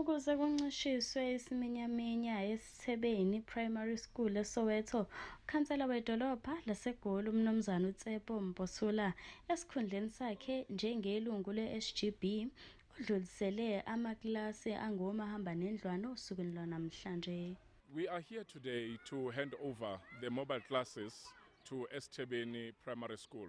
Ukuze kuncishiswe isiminyaminya esithebeni Primary School eSoweto, ukhansela wedolobha laseGoli uMnumzane uTsepo Mposula esikhundleni sakhe njengelungu le-SGB udlulisele amakilasi angomahamba nendlwana osukwini lwanamhlanje. We are here today to hand over the mobile classes to Esthebeni Primary School.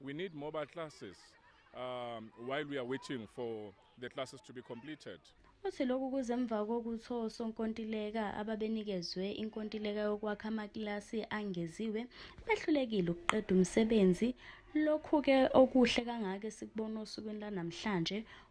We need mobile classes um, while we are waiting for the classes to be completed. Uthi lokhu kuze emva kokuthi osonkontileka ababenikezwe inkontileka yokwakha amakilasi angeziwe behlulekile ukuqeda umsebenzi. Lokhu-ke okuhle kangaka esikubona osukwini lanamhlanje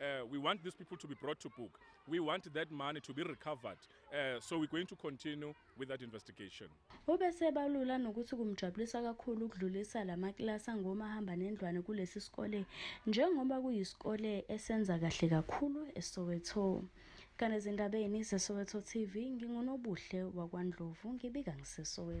Uh, we want these people to be brought to book. We want that money to be recovered. Uh, so we're going to continue with that investigation. Ubesebalula nokuthi kumjabulisa kakhulu ukudlulisa lamakilasi angomahamba nendlwane kulesi sikole njengoba kuyisikole esenza kahle kakhulu eSoweto. Kanezindabeni zeSoweto TV ngingunobuhle wakwaNdlovu ngibika ngiseSoweto.